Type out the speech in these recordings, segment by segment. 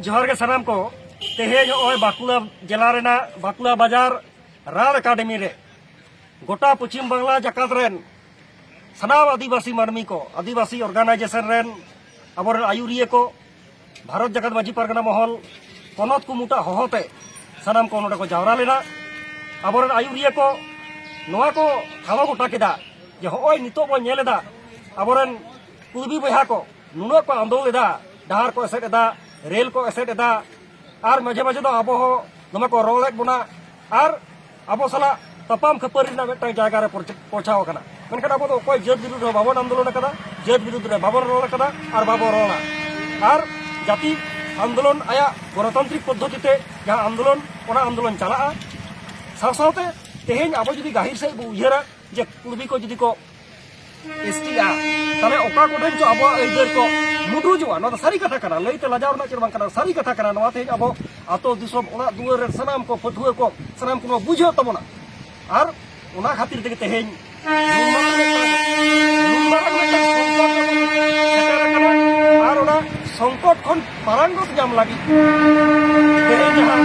ᱡᱚᱦᱟᱨ ᱜᱮ ᱥᱟᱱᱟᱢ ᱠᱚ ᱛᱮᱦᱮᱧ ᱱᱚᱜᱼᱚᱭ ᱵᱟᱸᱠᱩᱲᱟ ᱡᱮᱞᱟ ᱨᱮᱱᱟᱜ ᱵᱟᱸᱠᱩᱲᱟ ᱵᱟᱡᱟᱨ ᱨᱟᱲ ᱮᱠᱟᱰᱮᱢᱤ ᱨᱮ ᱜᱚᱴᱟ ᱯᱚᱪᱷᱤᱢ ᱵᱟᱝᱞᱟ ᱡᱟᱠᱟᱛ ᱨᱮᱱ ᱥᱟᱱᱟᱢ ᱟᱹᱫᱤᱵᱟᱹᱥᱤ ᱢᱟᱹᱱᱢᱤ ᱠᱚ ᱟᱹᱫᱤᱵᱟᱹᱥᱤ ᱚᱨᱜᱟᱱᱟᱭᱡᱮᱥᱚᱱ ᱨᱮᱱ ᱟᱵᱚᱨᱮᱱ ᱟᱹᱭᱩᱨᱤᱭᱟᱹ ᱠᱚ ᱵᱷᱟᱨᱚᱛ ᱡᱟᱠᱟᱛ ᱢᱟᱹᱡᱷᱤ ᱯᱟᱨᱜᱟᱱᱟ ᱢᱚᱦᱚᱞ ᱯᱚᱱᱚᱛ ᱠᱩᱢᱩᱴᱟ ᱦᱚᱦᱚᱛᱮ ᱥᱟᱱᱟᱢ ᱠᱚ ᱱᱚᱰᱮ ᱠᱚ ᱡᱟᱣᱨᱟ ᱞᱮᱱᱟ ᱟᱵᱚᱨᱮᱱ ᱟᱹᱭᱩᱨᱤᱭᱟᱹ ᱠᱚ ᱱᱚᱣᱟ ᱠᱚ ᱴᱷᱟᱶ ᱜᱚᱴᱟ ᱠᱮᱫᱟ ᱡᱮ ᱦᱚᱸᱜᱼᱚᱭ ᱱᱤᱛᱚᱜ ᱵᱚᱱ ᱧᱮᱞ ᱮᱫᱟ ᱟᱵᱚᱨᱮᱱ ᱠᱩᱲᱵᱤ ᱵᱚᱭᱦᱟ ᱠᱚ ᱱᱩᱱᱟᱹᱜ ᱠᱚ ᱟᱸᱫᱳᱲ ᱮᱫᱟ ᱰᱟᱦᱟᱨ ᱠᱚ ᱮᱥᱮᱫ ᱮᱫᱟ ᱨᱮᱞ ᱠᱚ ᱮᱥᱮᱫ ᱮᱫᱟ ᱟᱨ ᱢᱟᱡᱷᱮ ᱢᱟᱡᱷᱮ ᱫᱚ ᱟᱵᱚ ᱦᱚᱸ ᱫᱚᱢᱮ ᱠᱚ ᱨᱚᱲᱮᱫ ᱵᱚᱱᱟ ᱟᱨ ᱟᱵᱚ ᱥᱟᱞᱟᱜ ᱛᱟᱯᱟᱢ ᱠᱷᱟᱹᱯᱟᱹᱨᱤ ᱨᱮᱱᱟᱜ ᱢᱤᱫᱴᱟᱝ ᱡᱟᱭᱜᱟ ᱨᱮ ᱯᱳᱪᱷᱟᱣ ᱟᱠᱟᱱᱟ ᱢᱮᱱᱠᱷᱟᱱ ᱟᱵᱚ ᱫᱚ ᱚᱠᱚᱭ ᱡᱟᱹᱛ ᱵᱤᱨᱩᱫᱽ ᱨᱮ ᱵᱟᱵᱚᱱ ᱟᱱᱫᱳᱞᱚᱱ ᱟᱠᱟᱫᱟ ᱡᱟᱹᱛ ᱵᱤᱨᱩᱫᱽ ᱨᱮ ᱵᱟᱵᱚᱱ ᱨᱚᱲ ᱟᱠᱟᱫᱟ ᱟᱨ ᱵᱟᱵᱚᱱ ᱨᱚᱲᱟ ᱟᱨ ᱡᱟᱹᱛᱤ ᱟᱱᱫᱳᱞᱚᱱ ᱟᱭᱟᱜ ᱜᱚᱱᱚᱛᱟᱱᱛᱨᱤᱠ ᱯᱚᱫᱽᱫᱷᱚᱛᱤ ᱛᱮ ᱡᱟᱦᱟᱸ ᱟᱱᱫᱳᱞᱚᱱ ᱚᱱᱟ ᱟᱱᱫᱳᱞᱚᱱ ᱪᱟᱞᱟᱜᱼᱟ ᱥᱟᱶ ᱥᱟᱶᱛᱮ ᱛᱮᱦᱮᱧ ᱟᱵᱚ ᱡᱩᱫᱤ ᱜᱟᱹᱦᱤᱨ ᱥᱮᱫ ᱵᱚ ᱩᱭᱦᱟᱹᱨᱟ ᱡᱮ ᱠᱩᱲᱵᱤ ᱠᱚ ᱡᱩᱫᱤ ᱠᱚ ᱮᱥᱴᱤᱜᱼᱟ ᱛᱟᱦᱚᱞᱮ ᱚᱠᱟ ᱠᱚᱴᱷᱮᱱ ᱪᱚ ᱟᱵᱚᱣᱟᱜ ᱟᱹᱭᱫᱟᱹᱨ ᱠᱚ ᱢᱩᱴᱩᱡᱚᱜᱼᱟ ᱱᱚᱣᱟ ᱫᱚ ᱥᱟᱹᱨᱤ ᱠᱟᱛᱷᱟ ᱠᱟᱱᱟ ᱞᱟᱹᱭᱛᱮ ᱞᱟᱡᱟᱣ ᱨᱮᱱᱟᱜ ᱪᱮᱫ ᱵᱟᱝ ᱠᱟᱱᱟ ᱥᱟᱹᱨᱤ ᱠᱟᱛᱷᱟ ᱠᱟᱱᱟ ᱱᱚᱣᱟ ᱛᱮᱦᱮᱧ ᱟᱵᱚ ᱟᱛᱳ ᱫᱤᱥᱚᱢ ᱚᱲᱟᱜ ᱫᱩᱣᱟᱹᱨ ᱨᱮ ᱥᱟᱱᱟᱢ ᱠᱚ ᱯᱟᱹᱴᱷᱩᱣᱟᱹ ᱠᱚ ᱥᱟᱱᱟᱢ ᱠᱚ ᱵᱩᱡᱷᱟᱹᱣ ᱛᱟᱵᱚᱱᱟ ᱟᱨ ᱚᱱᱟ ᱠᱷᱟᱹᱛᱤᱨ ᱛᱮᱜᱮ ᱛᱮᱦᱮᱧ ᱟᱨ ᱚᱱᱟ ᱥᱚᱝᱠᱚᱴ ᱠᱷᱚᱱ ᱯᱟᱨᱟᱝᱜᱚᱛ ᱧᱟᱢ ᱞᱟᱹᱜᱤᱫ ᱛᱮᱦᱮᱧ ᱡᱟᱦᱟᱸ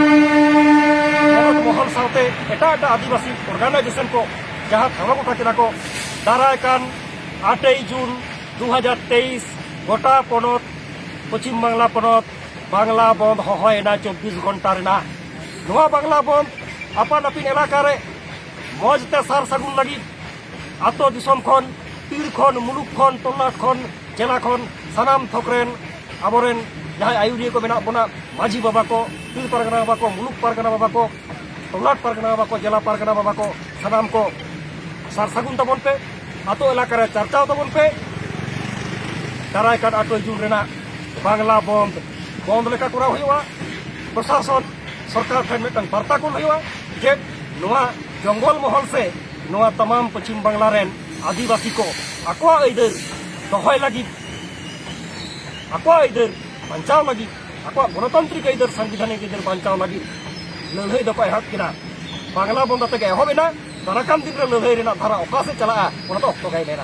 ᱯᱚᱱᱚᱛ ᱢᱚᱦᱚᱞ ᱥᱟᱶᱛᱮ ᱮᱴᱟᱜ ᱮᱴᱟᱜ ᱟᱹᱫᱤᱵᱟᱹᱥᱤ ᱚᱨᱜᱟᱱᱟᱭᱡᱮᱥᱚᱱ ᱠᱚ ᱡᱟᱦᱟᱸ ᱴᱷᱟᱶ ᱜᱚᱴᱟ ᱠᱮᱫᱟ ᱠᱚ ᱫᱟᱨᱟᱭ ᱠᱟᱱ ᱟᱴᱮᱭ ᱡᱩᱱ ᱫᱩ ᱦᱟᱡᱟᱨ ᱛᱮᱭᱤᱥ ᱜᱚᱴᱟ ᱯᱚᱱᱚᱛ ᱯᱚᱪᱷᱤᱢ ᱵᱟᱝᱞᱟ ᱯᱚᱱᱚᱛ ᱵᱟᱝᱞᱟ ᱵᱚᱱᱫ ᱦᱚᱦᱚᱭᱮᱱᱟ ᱪᱚᱵᱽᱵᱤᱥ ᱜᱷᱚᱱᱴᱟ ᱨᱮᱱᱟᱜ ᱱᱚᱣᱟ ᱵᱟᱝᱞᱟ ᱵᱚᱱᱫ ᱟᱯᱟᱱ ᱟᱹᱯᱤᱱ ᱮᱞᱟᱠᱟ ᱨᱮ ᱢᱚᱡᱽ ᱛᱮ ᱥᱟᱨ ᱥᱟᱹᱜᱩᱱ ᱞᱟᱹᱜᱤᱫ ᱟᱛᱳ ᱫᱤᱥᱚᱢ ᱠᱷᱚᱱ ᱯᱤᱲ ᱠᱷᱚᱱ ᱢᱩᱞᱩᱠ ᱠᱷᱚᱱ ᱛᱚᱞᱞᱟᱴ ᱠᱷᱚᱱ ᱡᱮᱞᱟ ᱠᱷᱚᱱ ᱥᱟᱱᱟᱢ ᱛᱷᱚᱠ ᱨᱮᱱ ᱟᱵᱚᱨᱮᱱ ᱡᱟᱦᱟᱸᱭ ᱟᱭᱩᱨᱤᱭᱟᱹ ᱠᱚ ᱢᱮᱱᱟᱜ ᱵᱚᱱᱟ ᱢᱟᱹᱡᱷᱤ ᱵᱟᱵᱟ ᱠᱚ ᱯᱤᱲ ᱯᱟᱨᱜᱟᱱᱟ ᱵᱟᱵᱟ ᱠᱚ ᱢᱩᱞᱩᱠ ᱯᱟᱨᱜᱟᱱᱟ ᱵᱟᱵᱟ ᱠᱚ ᱴᱚᱞᱟᱴ ᱯᱟᱨᱜᱟᱱᱟ ᱵᱟᱵᱟ ᱠᱚ ᱡᱮᱞᱟ ᱯᱟᱨᱜᱟᱱᱟ ᱵᱟᱵᱟ ᱠᱚ ᱥᱟᱱᱟᱢ ᱠᱚ ᱥᱟᱨ ᱥᱟᱹᱜᱩᱱ ᱛᱟᱵᱚᱱ ᱯᱮ ᱟᱛᱳ ᱮᱞᱟᱠᱟ ᱨᱮ ᱪᱟᱨᱪᱟᱣ ᱛᱟᱵᱚᱱ ᱯᱮ ᱫᱟᱨᱟᱭ ᱠᱟᱱ ᱟᱴᱚᱭ ᱡᱩᱱ ᱨᱮᱱᱟᱜ ᱵᱟᱝᱞᱟ ᱵᱚᱱᱫ ᱵᱚᱱᱫ ᱞᱮᱠᱟ ᱠᱚᱨᱟᱣ ᱦᱩᱭᱩᱜᱼᱟ ᱯᱨᱚᱥᱟᱥᱚᱱ ᱥᱚᱨᱠᱟᱨ ᱴᱷᱮᱱ ᱢᱤᱫᱴᱟᱝ ᱵᱟᱨᱛᱟ ᱠᱚᱞ ᱦᱩᱭᱩᱜᱼᱟ ᱡᱮ ᱱᱚᱣᱟ ᱡᱚᱝᱜᱚᱞ ᱢᱚᱦᱚᱞ ᱥᱮ ᱱᱚᱣᱟ ᱛᱟᱢᱟᱢ ᱯᱚᱪᱷᱤᱢ ᱵᱟᱝᱞᱟ ᱨᱮᱱ ᱟᱹᱫᱤᱵᱟᱹᱥᱤ ᱠᱚ ᱟᱠᱚᱣᱟᱜ ᱟᱹᱭᱫᱟᱹᱨ ᱫᱚᱦᱚᱭ ᱞᱟᱹᱜᱤᱫ ᱟᱠᱚᱣᱟᱜ ᱟᱹᱭᱫᱟᱹᱨ ᱵᱟᱧᱪᱟᱣ ᱞᱟᱹᱜᱤᱫ ᱟᱠᱚᱣᱟᱜ ᱜᱚᱱᱚᱛᱟᱱᱛᱨᱤᱠ ᱟᱹᱭᱫᱟᱹᱨ ᱥᱟᱝᱵᱤᱫᱷᱟᱱᱤᱠ ᱟᱹᱭᱫᱟᱹᱨ ᱵᱟᱧᱪᱟᱣ ᱞᱟᱹᱜᱤᱫ ᱞᱟᱹᱲᱦᱟᱹᱭ ᱫᱚᱠᱚ ᱮᱦᱚᱵ ᱠᱮᱫᱟ ᱵᱟᱝᱞᱟ ᱵᱚᱱᱫᱚ ᱛᱮᱜᱮ ᱮᱦᱚᱵ ᱮᱱᱟ ᱫᱟᱨᱟᱠᱟᱱ ᱫᱤᱱ ᱨᱮ ᱞᱟᱹᱲᱦᱟᱹᱭ ᱨᱮᱱᱟᱜ ᱫᱷᱟᱨᱟ ᱚᱠᱟ ᱥᱮᱫ ᱪᱟᱞᱟᱜᱼᱟ ᱚᱱᱟ ᱫᱚ ᱚᱠᱛᱚ ᱜᱮᱭ ᱢᱮᱱᱟ